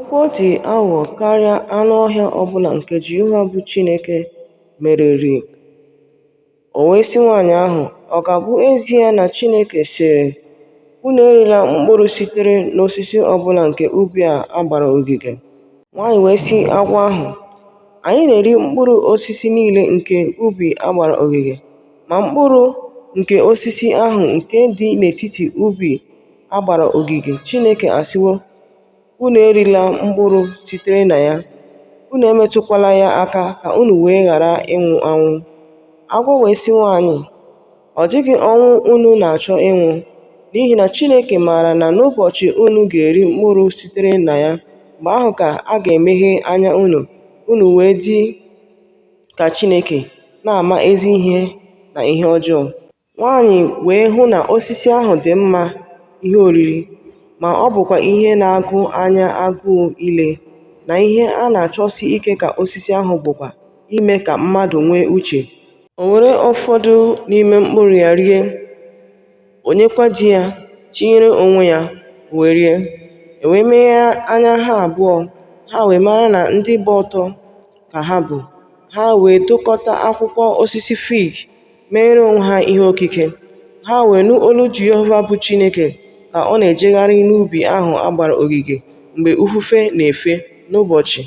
Agwọ dị aghụghọ karịa anụ ọhịa ọ bụla nke Jehova bụ Chineke mereri. O wee sị nwaanyị ahụ, Ọ ga-abụ ezie na Chineke sịrị, Unu erila mkpụrụ sitere n'osisi ọ bụla nke ubi a a gbara ogige? Nwaanyị wee sị agwọ ahụ, Anyị na-eri mkpụrụ osisi niile nke ubi a gbara ogige, ma mkpụrụ nke osisi ahụ nke dị n'etiti ubi a gbara ogige, Chineke asịwo, Unu erila mkpụrụ sitere na ya, unu emetụkwala ya aka ka unu wee ghara ịnwụ anwụ. Agwọ wee sị nwaanyị, Ọ dịghị ọnwụ unu na-achọ ịnwụ, n'ihi na Chineke maara na n'ụbọchị unu ga-eri mkpụrụ sitere na ya, mgbe ahụ ka a ga-emeghe anya unu, unu wee dị ka Chineke, na-ama ezi ihe na ihe ọjọọ. Nwaanyị wee hụ na osisi ahụ dị mma ihe oriri, ma ọ bụkwa ihe na-agụ anya agụụ ile, na ihe a na-achọsi ike ka osisi ahụ bụkwa ime ka mmadụ nwee uche. O were ụfọdụ n'ime mkpụrụ ya rie, o nyekwa di ya, tinyere onwe ya, o wee rie. E wee meghee anya ha abụọ, ha wee mara na ndị gba ọtọ ka ha bụ, ha wee dụkọta akwụkwọ osisi fig. meere onwe ha ihe okike, ha wee nụ olu Jehova bụ Chineke ka ọ na-ejegharị n'ubi ahụ a gbara ogige mgbe ifufe na-efe n'ụbọchị.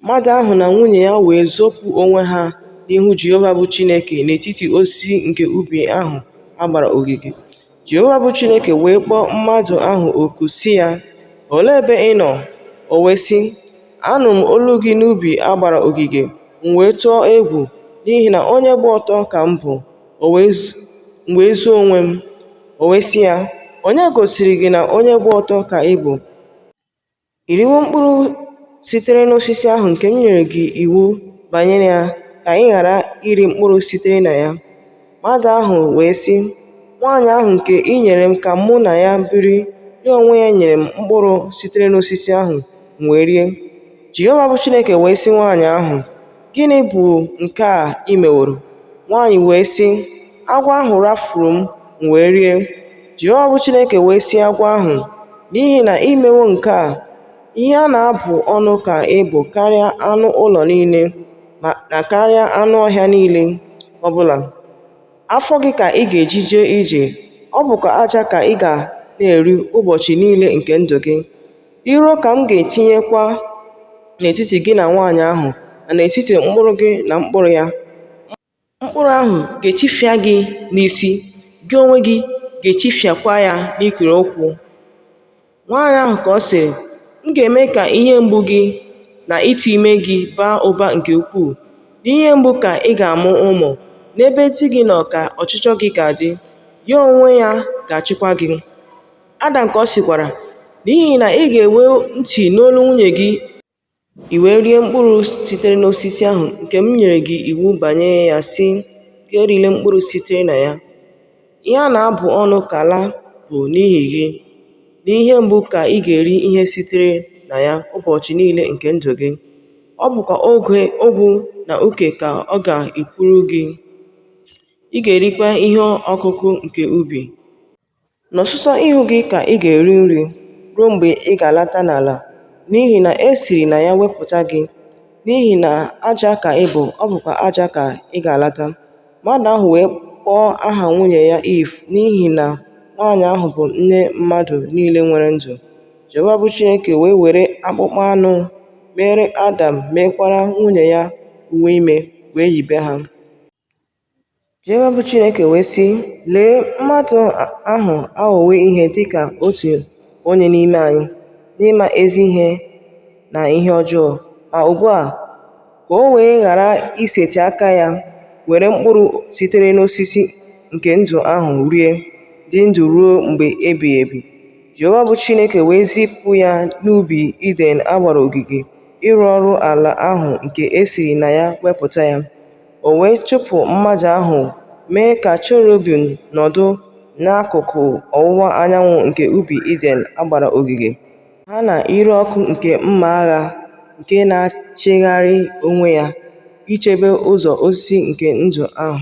Mmadụ ahụ na nwunye ya wee zopụ onwe ha n'ihu Jehova bụ Chineke n'etiti osisi nke ubi ahụ a gbara ogige. Jehova bụ Chineke wee kpọọ mmadụ ahụ oku sị ya, Olee ebe ị nọ? O wee sị, Anụ m olu gị n'ubi a gbara ogige, m wee tụọ egwu, n'ihi na onye gba ọtọ ka m bụ, m wee zoo onwe m. O wee sị ya, Onye gosiri gị na onye gba ọtọ ka ị bụ? I riwo mkpụrụ sitere n'osisi ahụ nke m nyere gị iwu banyere ya ka ị ghara iri mkpụrụ sitere na ya? Mmadụ ahụ wee sị, Nwaanyị ahụ nke i nyere m ka mụ na ya biri, ya onwe ya nyere m mkpụrụ sitere n'osisi ahụ, m wee rie. Jehova bụ Chineke wee sị nwaanyị ahụ, Gịnị bụ nke a i meworo? Nwaanyị wee sị, Agwọ ahụ rafuru m, m wee rie. Jehova bụ Chineke wee sị agwọ ahụ, N'ihi na i mewo nke a, ihe a na-abụ ọnụ ka ị bụ karịa anụ ụlọ niile na karịa anụ ọhịa niile ọ bụla. Afọ gị ka ị ga-eji jee ije, ọ bụkwa aja ka ị ga na-eri ụbọchị niile nke ndụ gị. Iro ka m ga-etinyekwa n'etiti gị na nwaanyị ahụ na n'etiti mkpụrụ gị na mkpụrụ ya. Mkpụrụ ahụ ga-echifịa gị n'isi, gị onwe gị ga-echifịakwa ya n'ikiri ụkwụ. Nwaanyị ahụ ka ọ sịrị, M ga-eme ka ihe mgbu gị na ịtụ ime gị baa ụba nke ukwuu. N'ihe mgbu ka ị ga-amụ ụmụ, n'ebe di gị nọ ka ọchịchọ gị ga-adị, ya onwe ya ga-achịkwa gị. Adam ka ọ sịkwara, N'ihi na i gewo ntị n'olu nwunye gị, i wee rie mkpụrụ sitere n'osisi ahụ nke m nyere gị iwu banyere ya sị, Gị erila mkpụrụ sitere na ya. Ihe a na-abụ ọnụ ka ala bụ n'ihi gị. N'ihe mgbu ka ị ga-eri ihe sitere na ya ụbọchị niile nke ndụ gị. Ọ bụkwa ogwu na uke ka ọ ga-epuru gị. Ị ga-erikwa ihe ọkụkụ nke ubi. N'ọsụsọ ihu gị ka ị ga-eri nri ruo mgbe ị ga-alata n'ala, n'ihi na e siri na ya wepụta gị. N'ihi na aja ka ị bụ, ọ bụkwa aja ka ị ga-alata. Mmadụ ahụ wee kpọọ aha nwunye ya Iiv n'ihi na nwaanyị ahụ bụ nne mmadụ niile nwere ndụ. Jehova bụ Chineke wee were akpụkpọ anụ meere Adam meekwara nwunye ya uwe ime wee yibe ha. Jehova bụ Chineke wee sị, Lee, mmadụ ahụ aghọwo ihe dị ka otu onye n'ime anyị n'ịma ezi ihe na ihe ọjọọ. Ma ugbu a, ka o wee ghara isetị aka ya were mkpụrụ sitere n'osisi nke ndụ ahụ rie, dị ndụ ruo mgbe ebighị ebi. Jehova bụ Chineke wee zipụ ya n'ubi Iden a gbara ogige ịrụ ọrụ ala ahụ nke e siri na ya wepụta ya. o wee chụpụ mmadụ ahụ mee ka cherubim nọdụ n'akụkụ ọwụwa anyanwụ nke ubi Iden a gbara ogige, ha na ire ọkụ nke mma agha nke na-achịgharị onwe ya ichebe ụzọ osisi nke ndụ ahụ.